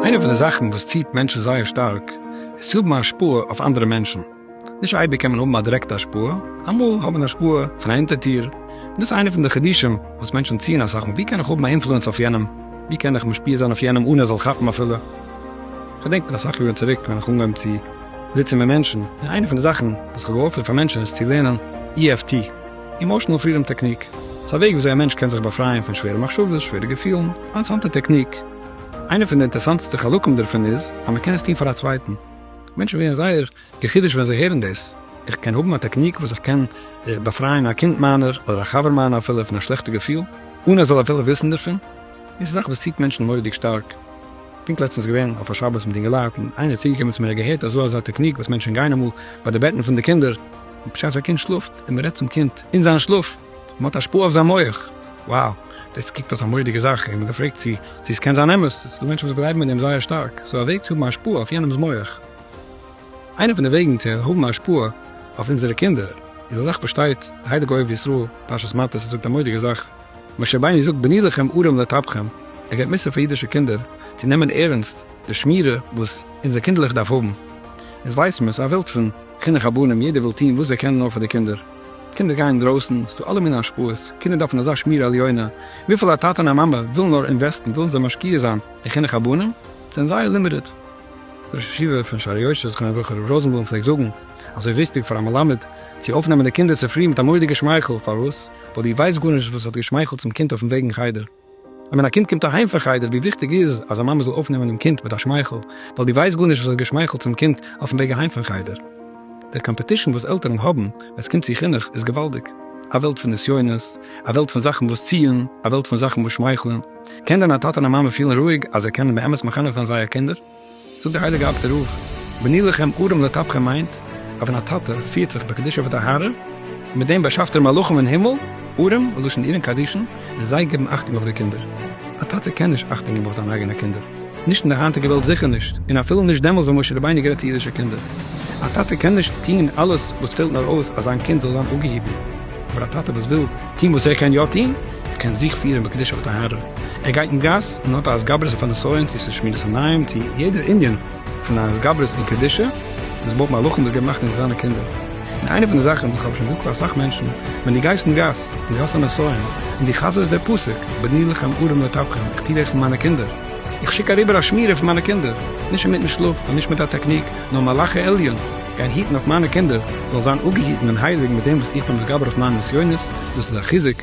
איינע פון די זאכן וואס ציט מענטשן זייער שטארק איז צו האבן א השפעה אויף אנדערע מענטשן. נישט אייביג קען מען האבן א דירעקטע השפעה, אמאל האט מען השפעה פון א ענטיטיר. און דאס איז איינע פון די חידושים וואס מענטשן ציען אסאך אן. ווי קען איך האבן א אינפלוענס אויף יענעם? ווי קען איך משפיע זיין אויף יענעם אן ער זאל כאפן אפילו? כ'דענק מיט אסאך יארן צוריק ווען איך אנגעהויבן צו זיצן מיט מענטשן, און איינע פון די זאכן וואס איך האב געהאלפן פאר מענטשן איז צו לערנען EFT, Emotional Freedom Technique, ס'איז א וועג וויאזוי א מענטש קען זיך באפרייען פון שווערע מחשבות, שווערע געפילן, א אינטערעסאנטע טעקניק. איינע פון די אינטערעסאנטסטע חלקים דערפון איז אז מ'קען עס טון פאר א צווייטן. מענטשן ווערן זייער די חידוש ווען זיי הערן דאס, איך קען האבן א טעקניק וואס איך קען באפרייען א קינד מיינער אדער א חבר מיינער אפילו פון א שלעכטע געפיל אן ער זאל אפילו וויסן דערפון, דאס איז א זאך וואס ציט מענטשן מורא'דיג שטארק. פונקט לעצטנס געווען אויף א שבת מיט אינגעלייט און איינער איז צוגעקומען צו מיר ער האט געהערט אז דא אזא טעקניק וואס מענטשן גיין אמאל ביי די בעטן פון די קינדער בשעת א קינד שלאפט און מ'רעדט צום קינד אין זיין שלאף און מ'האט השפעה אויף זיין מח, wow דאס קוקט אויס א מורא'דיגע זאך, איך בין געפרעגט צו צו עס קען זיין אמת, ס'דא מענטשן וואס גלייבן אין דעם זייער שטארק, סאו א וועג צו האבן השפעה אויף יענעמ'ס מח. איינע פון די וועגן צו האבן השפעה אויף אונזערע קינדער איז אזאך פארשטייט הייליגע אוהב ישראל פרשת מטות און זאגט א מודיגע זאך, משה רבינו זאגט בני לכם ערים לטפכם, ער געבט מוסר פאר אידישע קינדער צו נעמען ערענסט די שמירה וואס אונזער קינדערליך דארף האבן, אונז ווייסן מיר ס'איז א וועלט פון חינוך הבנים יעדער וויל טון וואס זיי קענען נאר פאר די קינדער, קינדער גייען אינדרויסן ס'איז דא אלע מיני השפעות, קינדער דארפן אזא שמירה עליונה, וויפיל א טאטע און א מאמע ווילן נאר אינוועסטן ווילן זיי משקיע זיין אין חינוך הבנים, זענען זייער לימיטעד. דער ראש ישיבה פון שערי יושר זכרונו לברכה רב ראזענבלום פלעגט זאגן אז ס'איז וויכטיג פאר א מלמד צו אויפנעמען די קינדער צופרי מיט א מורא'דיגע שמייכל, פארוואס? ווייל דו ווייסט גארנישט וואס האט געשמייכלט צום קינד אויפן וועג אין חדר. און ווען א קינד קומט אהיים פון חדר ווי וויכטיג איז אז א מאמע זאל אויפנעמען דעם קינד מיט א שמייכל, ווייל דו ווייסט גארנישט וואס האט געשמייכלט צום קינד אויפן וועג אהיים פון חדר. דער קאמפעטישן וואס עלטערן האבן ווען ס'קומט צו חינוך איז געוואלדיג. א וועלט פון נסיונות, א וועלט פון זאכן וואס ציען, א וועלט פון זאכן וואס שמייכלען. קען דען א טאטע און א מאמע פילן רואיג אז זיי קענען באמת מחנך זיין זייער קינדער? זאגט דער הייליגער אב ד רוב בני לכם ארם לטפכם מיינט אז ווען א טאטע פירט זיך בקדושה ובטהרה מיט דעם באשאפט ער מלאכים אין הימל, ארם מלשון אירן קדישן, איז זיי גיבן אכטונג אויף די קינדער. א טאטע קען נישט אכטונג גיבן אויף זיינע אייגענע קינדער, נישט אין די היינטיגע וועלט זיכער נישט, און אפילו נישט דעמאלס ווען משה רבינו האט גערעדט צו אידישע קינדער. א טאטע קען נישט טון אלעס וואס פעלט נאר אויס אז זיין קינד זאל זיין אפגעהיטן, אבער א טאטע וואס וויל טון וואס ער קען יא טון, ער קען זיך פירען בקדושה וטהרה, ער גייט אין גאס און האט א התגברות אויף א נסיון צו ס'איז שמירת עיניים צו יעדער ענין פון א התגברות און קדושה, דאס בויט מלאכים דאס געבט נחת אין זיינע קינדער. און איינע פון די זאכען וואס איך האב שוין געזאגט פאר אסאך מענטשען, ווען דו גייסט אין גאס און דו האסט א נסיון און דו חזר'סט דער פסוק בני לכם ערים לטפכם איך טוה דאס פאר מיינע קינדער, איך שיק אריבער א שמירה פון מיינע קינדער, נישט אינמיטן שלאף און נישט מיט א טעקניק, נאר מלאכי עליון גייען היטן אויף מיינע קינדער זאלן זיין אפגעהיטן און הייליג מיט דעם וואס איך בין מתגבר אויף מיינע נסיונות, דאס איז א חיזוק.